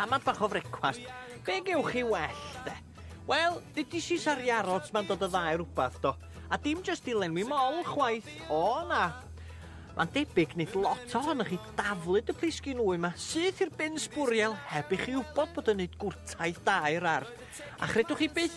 Tamad bach o frecwast. Be gewch chi well, de? Wel, dydy si sari arots ma'n dod o ddau rhywbeth, do. A dim jyst i lenwi mol, chwaith. O, na. Mae'n debyg nid lot ohonych chi daflyd y plisgyn wy yma, syth i'r bin sbwriel heb i chi wybod bod yn neud gwrtaith da i'r ardd. A chredwch chi byth,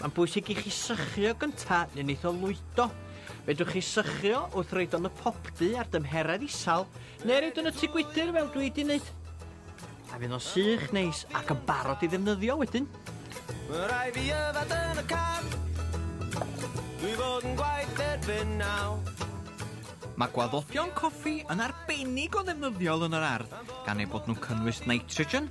Mae'n bwysig i chi sychio gynta neu neith o lwydo. Fedrwch chi sychio wrth roid o'n y popdy ar dymheredd isal neu roid o'n y tŷ gwydr fel dwi di wneud. A fydd o'n sych neis ac yn barod i ddefnyddio wedyn. Mae rai fi yfad yn y car Dwi fod yn gwaith erbyn naw Mae gwaddodion coffi yn arbennig o ddefnyddiol yn yr ardd, gan eu bod nhw'n cynnwys nitrogen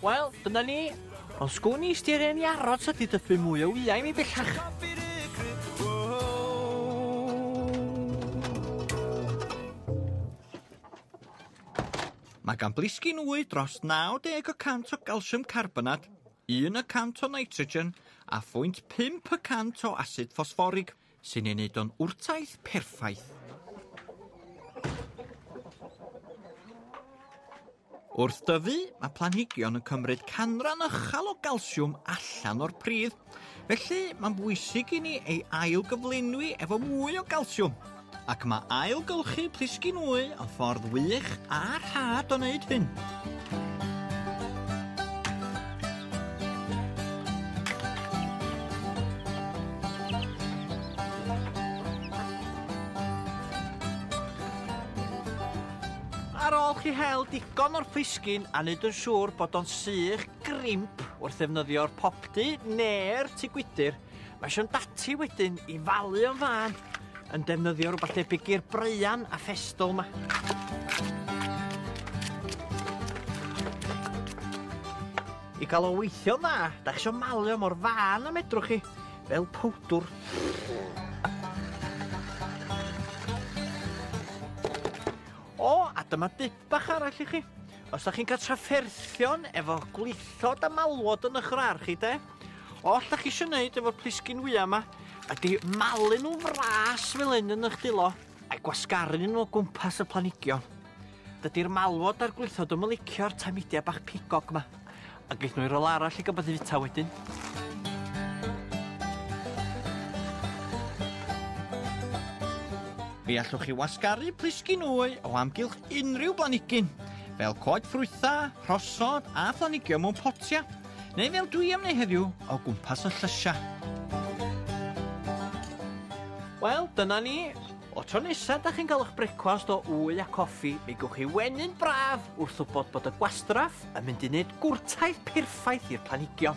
Wel, dyna ni. Ond sgwn i styr e'n i aros a didyfu mwy o wyau mi bellach. Mae gan blisgyn wy dros 90 o cant o galsiwm carbonat, 1 y cant o nitrogen a phwynt 5 y cant o asid ffosfforig. Sy'n ei wneud o'n wrtaith perffaith. Wrth dyfu, mae planhigion yn cymryd canran ychal o galsiwm allan o'r pridd, felly mae'n bwysig i ni ei ail gyflenwi efo mwy o galsiwm, ac mae ailgylchu plisgyn wy yn ffordd wych a rhad o wneud hyn. Ar ôl chi hel digon o'r plisgyn a wneud yn siŵr bod o'n sych grimp wrth ddefnyddio'r popdy neu'r tŷ gwydr, Mae Sian Dati wedyn i falu o'n fân yn defnyddio rhywbeth debyg i'r breuan a ffestol yma. I gael o weithio'n dda, da chi eisiau malio mor fân y medrwch chi, fel powdwr. O, a dyma dip bach arall i chi. Os da chi'n cael trafferthion efo gwlithod a malwod yn eich rar chi, de, Oll dach chi isio neud efo'r plisgyn wya yma ydy malu nhw'n fras fel hyn yn eich dilo a'i gwasgaru nhw o gwmpas y planigion. Dydy'r malwod a'r gwlithod yn licio'r tamidia bach pigog yma. A geith nhw i rol arall i gael fita wedyn. Fe allwch chi wasgaru plisgyn wy o amgylch unrhyw blanigyn, fel coed ffrwytha, rhosod a phlanigio mewn potia. neu fel dwi am neu heddiw, o gwmpas y llysiau. Wel, dyna ni. O tro nesaf da chi'n cael eich brecwast o wy a coffi, mi gwch chi wenyn braf wrth wybod bod y gwastraff yn mynd i wneud gwrtaith perffaith i'r planigion.